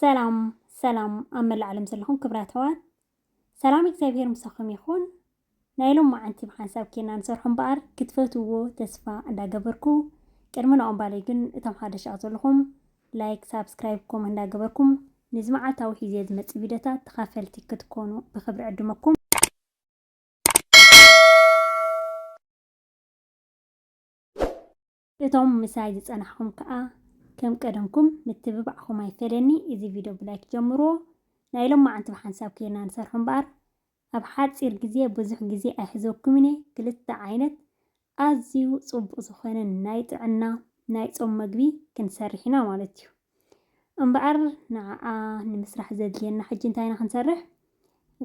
ሰላም ሰላም ኣብ መላእ ዓለም ዘለኹም ክብራት ኣሕዋት ሰላም እግዚኣብሄር ምሳኹም ይኹን። ናይ ሎም መዓንቲ ብሓንሳብ ኬና ንሰርሖ እምበኣር ክትፈትውዎ ተስፋ እንዳገበርኩ ቅድሚ ናኦም ባለይ ግን እቶም ሓደሽ ኣብ ዘለኹም ላይክ ሳብስክራይብ ኮመንት እንዳገበርኩም ንዚ መዓልታዊ ሒዜ ዝመጽእ ቪድዮታት ተኻፈልቲ ክትኮኑ ብኽብሪ ዕድመኩም። እቶም ምሳይ ዝጸናሕኩም ከኣ ከም ቀደምኩም ምትብባዕኩም ኣይፈለኒ እዚ ቪድዮ ብላይክ ጀምርዎ ናይ ሎማዓንቲ ብሓንሳብ ኬርና ንሰርሖ እምበኣር ኣብ ሓጺር ግዜ ብዙሕ ግዜ ኣይሕዘኩምን እየ ክልተ ዓይነት ኣዝዩ ጽቡቅ ዝኮነ ናይ ጥዕና ናይ ጾም መግቢ ክንሰርሕ ኢና ማለት እዩ እምበኣር ንዓኣ ንምስራሕ ዘድልየና ሕጂ እንታይ ኢና ክንሰርሕ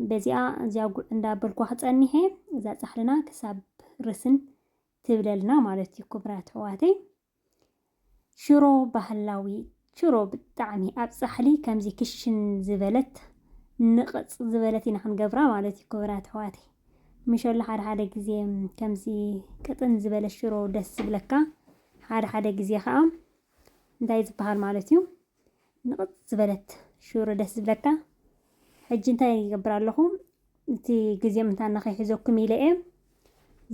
በዚኣ እዚኣ ጉዕ እንዳበልኳ ክጸኒሐ እዛ ጻሕልና ክሳብ ርስን ትብለልና ማለት እዩ ክብራ ትሕዋተይ ሽሮ ባህላዊ ሽሮ ብጣዕሚ ኣብ ፃሕሊ ከምዚ ክሽን ዝበለት ንቕፅ ዝበለት ኢና ክንገብራ ማለት እዩ ክብራ ትሕዋተይ ምሸሎ ሓደ ሓደ ግዜ ከምዚ ቅጥን ዝበለ ሽሮ ደስ ዝብለካ ሓደ ሓደ ግዜ ከዓ እንታይ ዝበሃል ማለት እዩ ንቕጽ ዝበለት ሽሮ ደስ ዝብለካ ሕጂ እንታይ ይገብር ኣለኹ እቲ ግዜ ምንታና ከይሕዘኩም ኢለ እየ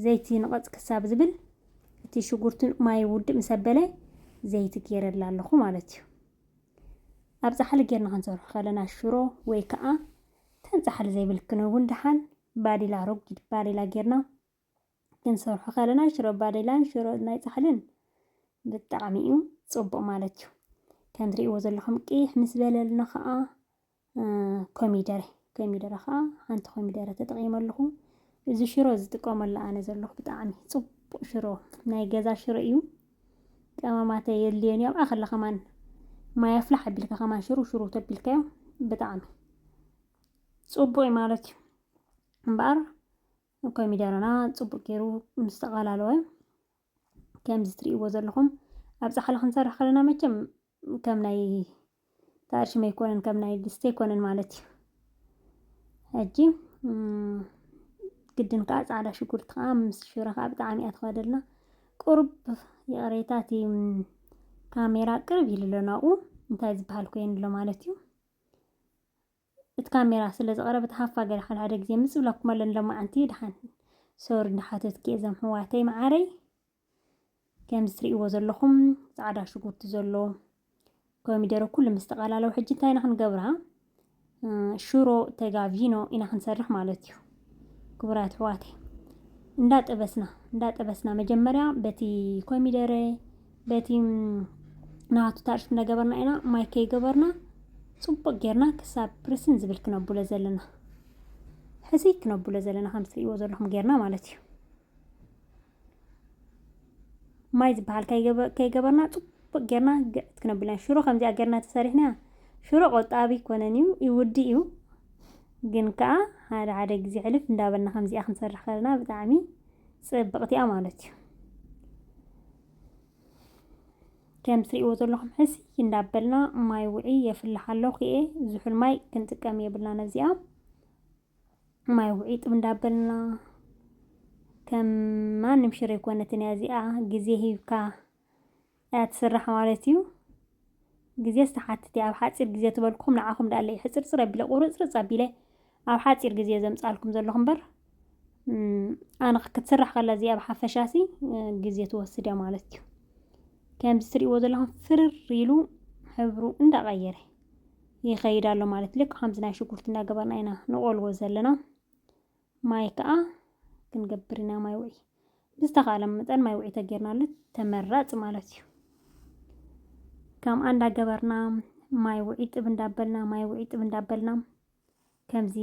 ዘይቲ ንቐጽ ክሳብ ዝብል እቲ ሽጉርትን ማይ ውድእ ምስ ኣበለ ዘይቲ ገይረላ ኣለኹ ማለት እዩ ኣብ ፃሕሊ ጌርና ክንሰርሑ ከለና ሽሮ ወይ ከዓ ተን ፃሕሊ ዘይብልክን እውን ድሓን ባዴላ ረጒድ ባዴላ ጌርና ክንሰርሖ ከለና ሽሮ ባዴላን ሽሮ ናይ ፃሕልን ብጣዕሚ እዩ ፅቡቅ ማለት እዩ ከም ትሪእዎ ዘለኹም ቅይሕ ምስ በለልና ከዓ ኮሚደረ ኮሚደረ ከዓ ሓንቲ ኮሚደረ ተጠቂመ ኣለኹ እዚ ሽሮ ዝጥቀመሉ ኣነ ዘለኹ ብጣዕሚ ፅቡቅ ሽሮ ናይ ገዛ ሽሮ እዩ ቀመማተ የድልዮን እዮም ኣኸለ ከማን ማይ ኣፍላሕ ኣቢልካ ከማን ሽሩ ሽሩ ተቢልካዮ ብጣዕሚ ፅቡቅ ማለት እዩ እምበኣር ኮሚደረና ጽቡቅ ጌሩ ምስ ተቀላለወ ከምዚ ትርእይዎ ዘለኹም ኣብ ጻሕሊ ክንሰርሕ ከለና መቸም ከም ናይ ተኣርሽመ ኣይኮነን ከም ናይ ድስቲ ኣይኮነን ማለት እዩ ሕጂ ግድን ከዓ ፃዕዳ ሽጉርቲ ከዓ ምስ ሽረ ከዓ ብጣዕሚ እያ ትኸደልና ቁርብ ይቕሬታ እቲ ካሜራ ቅርብ ኢሉ ኣሎ ናብኡ እንታይ ዝበሃል ኮይኑ ኣሎ ማለት እዩ እቲ ካሜራ ስለ ዝቐረበ ተሃፋ ገለ ሓደ ሓደ ግዜ ምጽ ብለኩም ኣለኒ ሎማዓንቲ ድሓን ሶሪ እንዳሓተትኪ እዞም ሕዋተይ መዓረይ ከምዚ ትርእይዎ ዘለኹም ጻዕዳ ሽጉርቲ ዘሎ ኮሚደረ ኩሉ ምስ ተቐላለው ሕጂ እንታይ ኢና ክንገብራ ሽሮ ተጋቪኖ ኢና ክንሰርሕ ማለት እዩ ክቡራት ኣሕዋተይ እንዳጠበስና እንዳጠበስና መጀመርያ በቲ ኮሚደረ በቲ ናቱ ታርሽ እንዳገበርና ኢና ማይ ከይገበርና ፅቡቅ ጌርና ክሳብ ፕርስን ዝብል ክነብሎ ዘለና ሕዚ ክነብሎ ዘለና ከም ትርእይዎ ዘለኹም ጌርና ማለት እዩ ማይ ዝበሃል ከይገበርና ፅቡቅ ጌርና ግዕት ክነብልና ሽሮ ከምዚኣ ጌርና ተሰሪሕና ሽሮ ቆጣቢ ኮነን እዩ ይውዲ እዩ ግን ከዓ ሓደ ሓደ ግዜ ሕልፍ እንዳበልና ከምዚኣ ክንሰርሕ ከለና ብጣዕሚ ፅብቕቲ እያ ማለት እዩ ከም ትሪእዎ ዘለኹም ሕሲ እንዳበልና ማይ ውዒ የፍልሓ ኣለኹ እየ ዝሑል ማይ ክንጥቀም የብልና ነዚኣ ማይ ውዒጥ እንዳበልና ከም ማንም ሽሮ ኣይኮነትን እያ እዚኣ ግዜ ሂብካ እያ ትስራሕ ማለት እዩ ግዜ ዝተሓትት እያ ኣብ ሓፂር ግዜ ትበልኩም ንዓኹም ዳኣለ እዩ ሕፅርፅር ኣቢለ ቁርፅርፅ ኣቢለ ኣብ ሓፂር ግዜ ዘምፃልኩም ዘለኹ እምበር ኣነ ክትስራሕ ከላ እዚኣ ኣብ ሓፈሻሲ ግዜ ትወስድ እያ ማለት እዩ ከምዚ ትሪእዎ ዘለኹም ፍርር ኢሉ ሕብሩ እንዳቐየረ ይኸይድ ኣሎ ማለት ልክ ከምዚ ናይ ሽጉርቲ እናገበርና ኢና ንቆልዎ ዘለና ማይ ከዓ ክንገብር ኢና ማይ ውዒ ብዝተኻለ መጠን ማይ ውዒ ተጌርናሉ ተመራፂ ማለት እዩ ከምኣ እንዳገበርና ማይ ውዒ ጥብ እንዳበልና ማይ ውዒ ጥብ እንዳበልና ከምዚ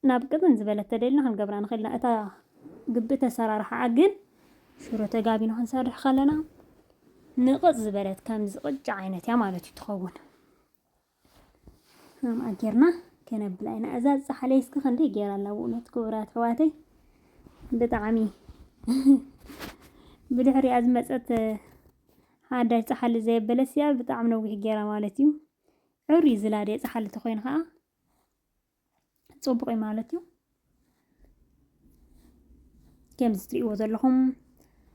ናብ ቅጥን ዝበለት ተደልና ክንገብራ ንኽእልና እታ ግብእቲ ኣሰራርሓኣ ግን ሽሮ ተጋቢና ክንሰርሕ ከለና ንቕፅ ዝበለት ከምዚ ቅጫ ዓይነት እያ ማለት እዩ ትኸውን ከምኣ ጌርና ከነብላ ኢና እዛ ዝፀሓለይ እስኪ ክንደይ ጌራ ኣላ ብእውነት ክቡራት ኣሕዋተይ ብጣዕሚ ብድሕሪኣ ዝመፀት ሓዳሽ ፀሓሊ ዘየበለስ እያ ብጣዕሚ ነዊሕ ጌራ ማለት እዩ ዕርዩ ዝላደ ፀሓሊ ተኮይኑ ከዓ ፅቡቕ እዩ ማለት እዩ ከምዚ ትሪእዎ ዘለኹም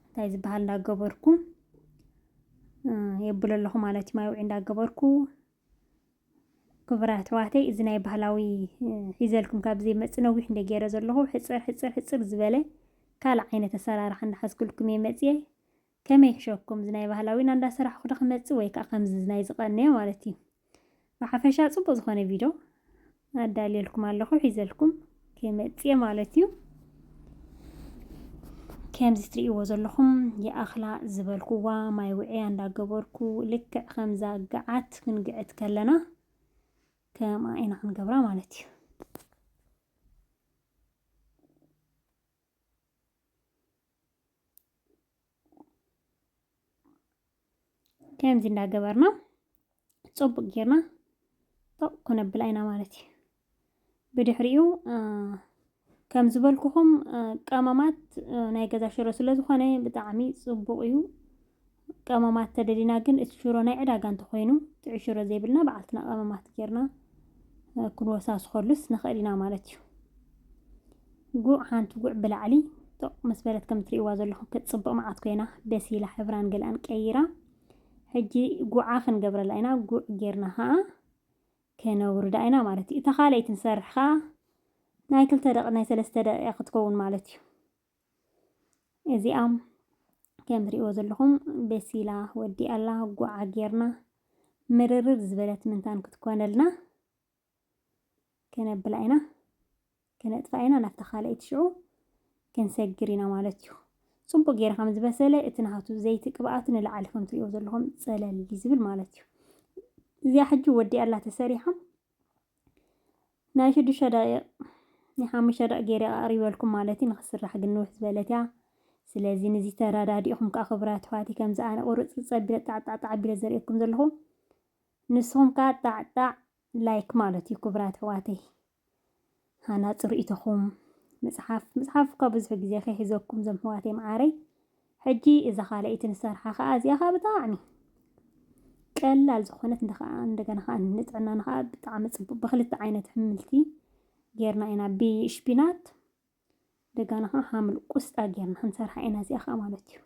እንታይ ዝበሃል እንዳገበርኩ የብሎ ኣለኹ ማለት እዩ ማይ ውዒ እንዳገበርኩ ክቡራት ኣሕዋተይ እዚ ናይ ባህላዊ ሒዘልኩም ካብ ዘይመፅ ነዊሕ እንደ ገይረ ዘለኹ ሕፅር ሕፅር ሕፅር ዝበለ ካልእ ዓይነት ኣሰራርሓ እንዳሓዝኩልኩም እየ መፅየ ከመይ ይሕሸኩም እዚ ናይ ባህላዊና እንዳ ሰራሕኩ ዶ ክመጽእ ወይ ከኣ ከምዚ ናይ ዝቀነየ ማለት እዩ ብሓፈሻ ጽቡቅ ዝኮነ ቪዶ ኣዳልየልኩም ኣለኩ ሒዘልኩም ክመጽእ ማለት እዩ ከምዚ ትርእይዎ ዘለኹም የኣኽላ ዝበልኩዋ ማይ ውዕያ እንዳገበርኩ ልክዕ ከምዛ ግዓት ክንግዕት ከለና ከምኣ ኢና ክንገብራ ማለት እዩ ከምዚ እንዳገበርና ፅቡቅ ጌርና ጦቅ ኩነብላ ኢና ማለት እዩ ብድሕሪኡ ከም ዝበልኩኹም ቀመማት ናይ ገዛ ሽሮ ስለ ዝኾነ ብጣዕሚ ፅቡቅ እዩ ቀመማት ተደሊና ግን እቲ ሽሮ ናይ ዕዳጋ እንተኾይኑ ጥዑይ ሽሮ ዘይብልና በዓልትና ቀመማት ጌርና ክንወሳስኸሉስ ንኽእል ኢና ማለት እዩ። ጉዕ ሓንቲ ጉዕ ብላዕሊ ጦቕ ምስ በለት ከም ትርእይዋ ዘለኹም ክትጽብቕ መዓት ኮይና በሲላ ሕብራን ገላን ቀይራ ሕጂ ጉዓ ክንገብረላ ኢና ጉዕ ጌርና ከዓ ከነውርዳ ኢና ማለት እዩ እታ ካልኣይቲ ንሰርሕ ከዓ ናይ ክልተ ደቂ ናይ ሰለስተ ደቂቃ ክትከውን ማለት እዩ እዚኣ ከም ትሪእዎ ዘለኹም በሲላ ወዲኣ ኣላ ጉዓ ጌርና ምርርር ዝበለት ምንታን ክትኮነልና ከነብላ ኢና ከነጥፋ ኢና ናብታ ካልኣይቲ ሽዑ ክንሰግር ኢና ማለት እዩ ፅቡቅ ጌረ ከም ዝበሰለ እቲ ናሃቱ ዘይቲ ቅብኣት ንላዕሊ ከም ትሪእዎ ዘለኹም ፀለል ዝብል ማለት እዩ እዚኣ ሕጂ ወዲኣ ኣላ ተሰሪሓ ናይ ሽዱሽተ ደቂቅ ናይ ሓሙሽተ ደቂቅ ገይረ ኣቅሪበልኩም ማለት እዩ ንክስራሕ ግን ንውሕ ዝበለት እያ ስለዚ ንዚ ተረዳዲእኹም ከኣ ክቡራት ኣሕዋተይ ከምዚ ኣነ ቁርጽርጽ ኣቢለ ጣዕጣዕጣዕ ኣቢለ ዘርእየኩም ዘለኹ ንስኹም ከኣ ጣዕጣዕ ላይክ ማለት እዩ ክቡራት ኣሕዋተይ ሃናጺ ርእይቶኹም መጽሓፍ መጽሓፍ እኳ ብዙሕ ግዜ ከይሕዘኩም ዘም ኣሕዋተይ መዓረይ ሕጂ እዛ ካልኣይቲ ንሰርሓ ከኣ እዚኣ ከኣ ብጣዕሚ ቀላል ዝኾነት እንደ ከኣ እንደገና ከኣ ንጥዕናና ከኣ ብጣዕሚ ጽቡቅ ብክልተ ዓይነት ሕምልቲ ጌርና ኢና ብሽፒናት እንደገና ከኣ ሓምሊ ቁስጣ ጌርና ክንሰርሓ ኢና እዚኣ ከኣ ማለት እዩ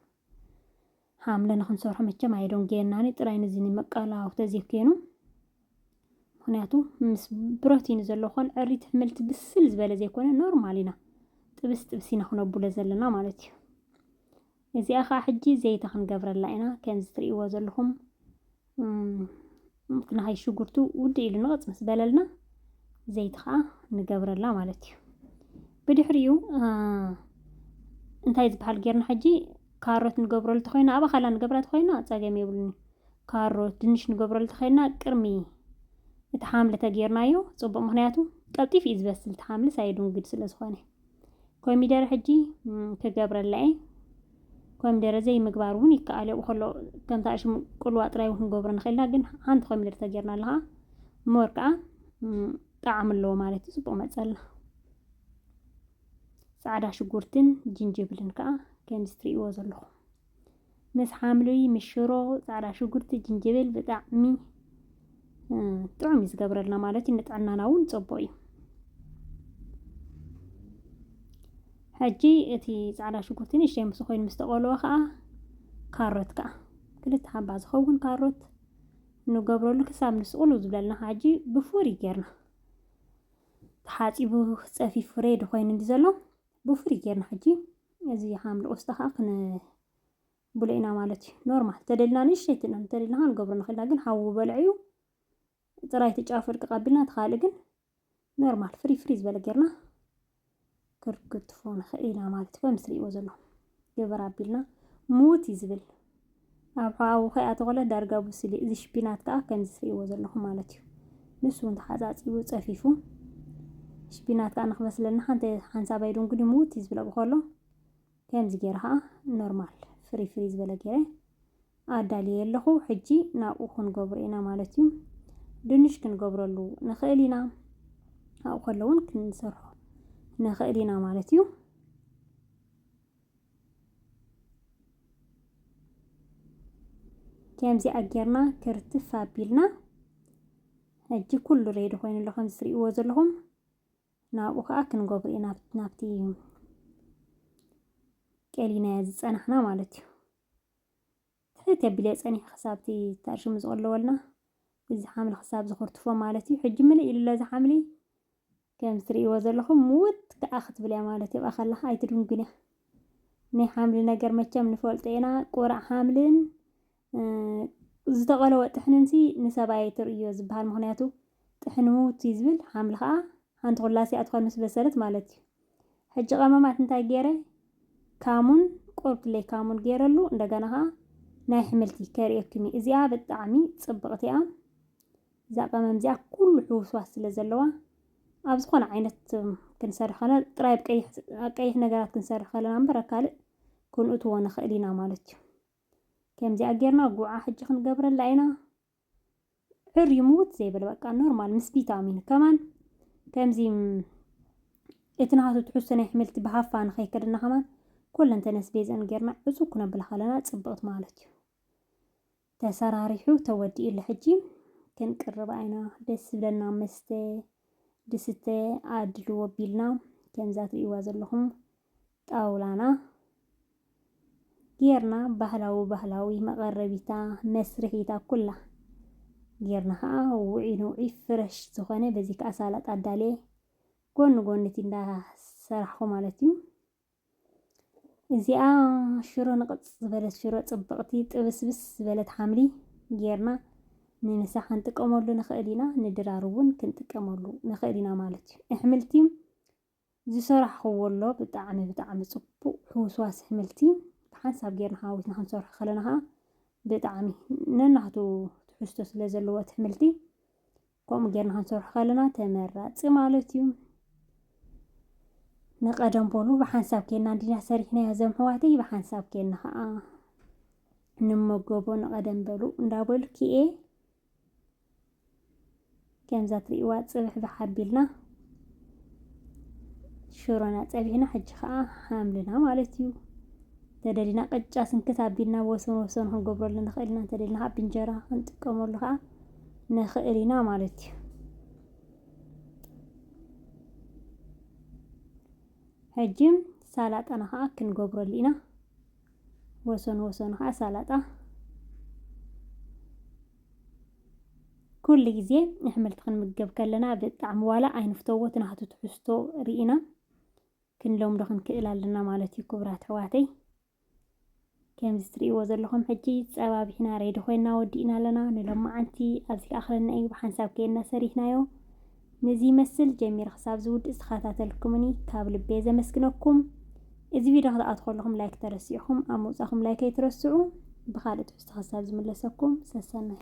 ሓምለ ንክንሰርሖ መቸም ኣይዶንጌናኒ ጥራይ ንዚ ንመቀላዊ ተዘይኮይኑ ምክንያቱ ምስ ብሮቲን ዘሎ ኮን ዕሪት ሕምልቲ ብስል ዝበለ ዘይኮነ ኖርማል ኢና ጥብስ ጥብስ ኢና ክነቡለ ዘለና ማለት እዩ እዚኣ ከዓ ሕጂ ዘይተ ክንገብረላ ኢና ከምዚ ትርእይዎ ዘለኹም ምክንያት ሽጉርቱ ውድ ኢሉ ንቕፅ ምስ በለልና ዘይት ከዓ ንገብረላ ማለት እዩ ብድሕሪኡ እንታይ ዝበሃል ጌርና ሕጂ ካሮት ንገብረሉ ተኮይና ኣባኻላ ንገብራ ተኮይና ፀገም የብሉን ካሮት፣ ድንሽ ንገብረሉ ተኸይና ቅርሚ እቲ ሓምሊ ተጌርናዮ ጽቡቕ ምክንያቱ ቀልጢፍ እዩ ዝበስል እቲ ሓምሊ ሳይዱንግድ ስለ ዝኾነ ኮሚደረ ሕጂ ክገብረላ እየ ኮሚደረ ዘይምግባር እውን ይከኣል እዮ ከሎ ከምታ ሽሙ ቁልዋ ጥራይ እውን ክንገብሮ ንኽእልና ግን ሓንቲ ኮሚደረ ተጌርና ኣለኻ ሞር ከዓ ጣዕሚ ኣለዎ ማለት እዩ ጽቡቕ መጸልና ጻዕዳ ሽጉርትን ጅንጅብልን ከዓ ከምዚ ትርእይዎ ዘለኹም ምስ ሓምሊ ምስ ሽሮ ፃዕዳ ሽጉርቲ ጅንጅብል ብጣዕሚ ጥዑም እዩ ዝገብረልና ማለት እዩ ንጥዕናና እውን ፅቡቅ እዩ ሕጂ እቲ ፃዕዳ ሽጉርቲ ንእሽተይ ምስ ኮይኑ ምስ ተቆልወ ከዓ ካሮት ከዓ ክልተ ሓባ ዝኸውን ካሮት ንገብረሉ ክሳብ ንሱ ቁልው ዝብለልና ከዓ ሕጂ ብፍሩይ ጌርና ተሓፂቡ ፀፊፉ ሬዲ ኮይኑ እንዲ ዘሎ ብፍሪ ጌርና ሕጂ እዚ ሓምሊ ቆስጣ ከዓ ክንብሎ ኢና ማለት እዩ። ኖርማል ተደልና ንእሽተይ ትነ ተደልና ከዓ ንገብሮ ንኽእልና ግን ሓዊ በልዐዩ ጥራይ እቲ ጫፍ ፍርቂ ቀቢልና እቲ ካልእ ግን ኖርማል ፍሪ ፍሪ ዝበለ ጌርና ክንክትፎ ንኽእል ኢና ማለት እዩ። ከምዚ ትሪእዎ ዘለኹም ግበር ኣቢልና ምዉት እዩ ዝብል። ኣብ ሕቛኡ ከይ ኣተኾለ ዳርጋ ብሱል እዩ። እዚ ሽፒናት ከኣ ከምዚ ትርእይዎ ዘለኹም ማለት እዩ። ንሱ እውን ተሓጻጺቡ ጸፊፉ። ሽፒናት ከኣ ንክበስለልና ሓንቲ ሓንሳባይ ድንጉዲ ምዉት እዩ ዝብል ኣብኡ ከሎ ከምዚ ገይረ ከኣ ኖርማል ፍሪ ፍሪ ዝበለ ገይረ ኣዳልየ ኣለኹ። ሕጂ ናብኡ ክንገብሮ ኢና ማለት እዩ። ድንሽ ክንገብረሉ ንኽእል ኢና። ኣብኡ ከሎ እውን ክንሰርሖ ንኽእል ኢና ማለት እዩ። ከምዚኣ ጌርና ክርትፍ ኣቢልና ሕጂ ኩሉ ሬዲ ኮይኑ ኣሎ ከምዚ ትሪእዎ ዘለኹም ናብኡ ከዓ ክንገብሩ ኢና ናብቲ ቀሊናዮ ዝፀናሕና ማለት እዩ ትሕት ኣቢለ ፀኒሐ ክሳብቲ ተርሽሙ ዝቕለወልና እዚ ሓምሊ ክሳብ ዝኽርትፎ ማለት እዩ ሕጂ ምልእ ኢሉሎ እዚ ሓምሊ ከም እትርእይዎ ዘለኹም ምውት ከኣ ክትብል እያ ማለት እያ ከላ ኣይትድንጉን እያ ናይ ሓምሊ ነገር መቸም ንፈልጦ ኢና ቁራዕ ሓምልን ዝተቐለወ ጥሕንንሲ ንሰብኣይ ኣይትርእዮ ዝበሃል ምክንያቱ ጥሕኒ ምውት እዩ ዝብል ሓምሊ ከኣ ሓንቲ ኩላሲ እያ ትኾን ምስ በሰለት ማለት እዩ ሕጂ ቀመማት እንታይ ገይረ ካሙን ቆርብትለይ ካሙን ገይረሉ እንደገና ከኣ ናይ ሕምልቲ ከርእየኩም እዩ እዚኣ ብጣዕሚ ጽብቕቲ እያ እዛ ቀመም እዚኣ ኩሉ ሕውስዋስ ስለ ዘለዋ ኣብ ዝኾነ ዓይነት ክንሰርሕ ከለና ጥራይ ኣብ ቀይሕ ነገራት ክንሰርሕ ከለና እምበር ኣብ ካልእ ክንእትዎ ንኽእል ኢና ማለት እዩ ከምዚኣ ጌርና ጉዓ ሕጂ ክንገብረላ ኢና ዕርዩ ምውት ዘይበለ በቃ ኖርማል ምስ ቪታሚን ከማን ከምዚ እቲ ናሃቱ ትሕዝቶ ናይ ኣሕምልቲ ብሃፋ ንኸይከደና ከማን ኮለንተነስ ቤዘን ጌርና ዕፁብ ክነብላ ከለና ፅብቕቲ ማለት እዩ ተሰራሪሑ ተወዲኡ ኣሎ ሕጂ ክንቅርብ ኣይና ደስ ዝብለና መስተ ድስተ ኣድልዎ ቢልና ከምዛ ትርእይዋ ዘለኹም ጣውላና ጌርና ባህላዊ ባህላዊ መቐረቢታ መስርሒታ ኩላ ጌርና ከዓ ውዒ ንውዒ ፍረሽ ዝኾነ በዚ ከዓ ሳላጣ ኣዳልየ ጎኒ ጎኒ እቲ እንዳሰራሕኹ ማለት እዩ እዚኣ ሽሮ ንቕፅ ዝበለት ሽሮ ፅብቕቲ ጥብስብስ ዝበለት ሓምሊ ጌርና ንምሳ ክንጥቀመሉ ንኽእል ኢና። ንድራር እውን ክንጥቀመሉ ንኽእል ኢና ማለት እዩ። ኣሕምልቲ ዝሰራሕኽዎ ኣሎ ብጣዕሚ ብጣዕሚ ፅቡቕ ሕውስዋስ ኣሕምልቲ ብሓንሳብ ጌርና ሓዊስና ክንሰርሖ ከለና ከዓ ብጣዕሚ ነናቱ ትሕዝቶ ስለ ዘለዎ እቲ ኣሕምልቲ ከምኡ ጌርና ክንሰርሖ ከለና ተመራጺ ማለት እዩ። ንቀደም በሉ ብሓንሳብ ኬና እንዲና ሰሪሕናዮ ዘም ሕዋተይ ብሓንሳብ ኬና ከዓ ንመገቦ ንቀደም በሉ እንዳበሉ ክኤ ከምዛ ትርእዋ ጽብሕ ብሓቢልና ሽሮና ጸቢሕና ሕጂ ከዓ ሓምልና ማለት እዩ። ተደሊና ቅጫ ስንክት ኣቢልና ወሰን ወሰኑ ክንገብረሉ ንኽእል ኢና። ተደሊና ከዓ ብእንጀራ ክንጥቀመሉ ከዓ ንኽእል ኢና ማለት እዩ። ሕጂ ሳላጣና ከዓ ክንገብረሉ ኢና። ወሰኑ ወሰኑ ከዓ ሳላጣ ኩሉ ግዜ ኣሕምልቲ ክንምገብ ከለና ብጣዕሚ ዋላ ኣይንፍተዎ እቲ ናቱ ትሕዝቶ ርኢና ክንለምዶ ክንክእል ኣለና ማለት እዩ ክቡራት ኣሕዋተይ። ከምዚ ትርእይዎ ዘለኹም ሕጂ ጸባቢሕና ሬዲ ኮይና ወዲእና ኣለና ንሎማዓንቲ ኣብዚ ክኣኽለና እዩ ብሓንሳብ ከይና ሰሪሕናዮ ነዚ ይመስል ጀሚረ ክሳብ ዝውድእ ዝተኸታተልኩምኒ ካብ ልቤ ዘመስግነኩም እዚ ቪድዮ ክትኣትኹ ከለኹም ላይክ ተረሲዕኹም ኣብ ምውጻኹም ላይክ ኣይትረስዑ ብኻልእ ትሕዝቶ ክሳብ ዝምለሰኩም ሰሰናይ